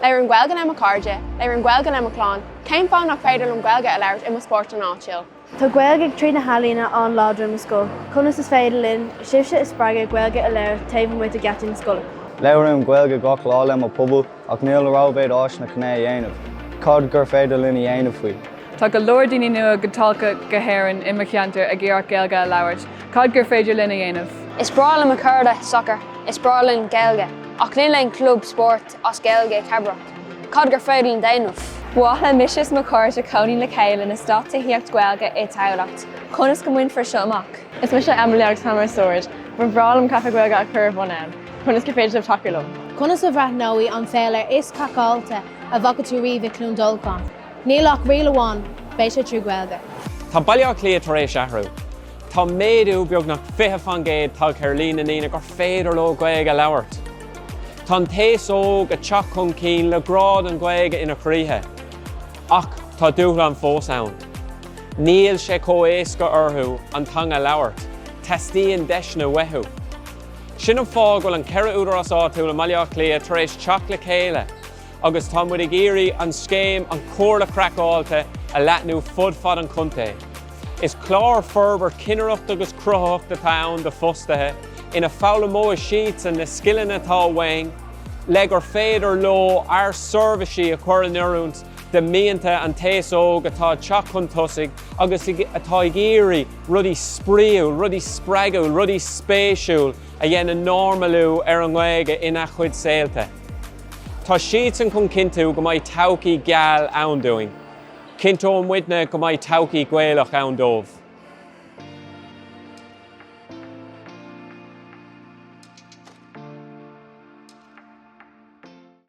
Labhraím Gaeilge le mo chairde. Labhraím Gaeilge le mo chlann. Cén fáth nach féidir liom Gaeilge a labhairt i mo spórtlann áitiúil? Tá Gaeilge tríd na healaíona an-láidir i mo scoil. Conas is féidir linn sibhse a spreagadh Gaeilge a labhairt taobh amuigh de gheataí na scoile? Labhraím Gaeilge gach lá le mo pobal ach níl rómhéad áiseanna chun é a dhéanamh. Cad gur féidir linn a dhéanamh faoi? Tá go leor daoine nua-thagtha go hÉirinn i mo cheantar ag iarracht Gaeilge a labhairt. Cad gur féidir linn a dhéanamh? Is breá le mo chairde sacar. Is breá linn Gaeilge. Ach níl aon chlub spóirt as Gaeilge i gCabrach, cad gur féidir linn déanamh. Ba mhaith le mise is mo chairde cónaí le chéile in eastát tithíocht Gaeilge i Tamhlacht. Conas go mbainfear seo amach? Is mise Emily agus táim ó Sord. Ba bhreá liom caife Gaeilge a chur ar bhun ann. Conas gur féidir libh tacú liom? Conas a bhreathnóidh an féile is craiceáilte a bhfaca tú riamh i Cluain Dolcáin? Níl ach riail amháin, beidh sé trí Gaeilge. Tá Baile Átha Cliath tar éis athrú. Tá méadú beagnach 20 faoin gcéad tagtha ar líon na ndaoine gur féidir leo Gaeilge a labhairt. Tá an t-aos óg ag teacht chun cinn le grá don Ghaeilge ina gcroíthe, ach tá dúshláin fós ann. Níl sé comh éasca orthu an teanga a labhairt, teastaíonn deiseanna uathu. Sin an fáth a bhfuil an ceithre údarás áitiúil i mBaile Átha Cliath tar éis teacht le chéile agus tá muid ag iarraidh an scéim An Chomhairle Craiceáilte a leathnú fud fad an chontae. Is clár forbairt cinnireachta agus cruthaitheacht atá ann d'fhostaithe ina foghlaimeoidh siadsan na scileanna atá uainn le gur féidir leo ár seirbhísí a chur in oiriúint do mhianta an t-aos óg atá ag teacht chun tosaigh agus atá ag iarraidh rudaí spraíúil, rudaí spreagúil, rudaí spéisiúil a dhéanann normalú ar an nGaeilge ina chuid saolta. Tá siadsan chun cinntiú go mbeidh todhchaí gheal ann dúinn. Cinnteoidh muidne go mbeidh todhchaí Ghaelach ann dóibh.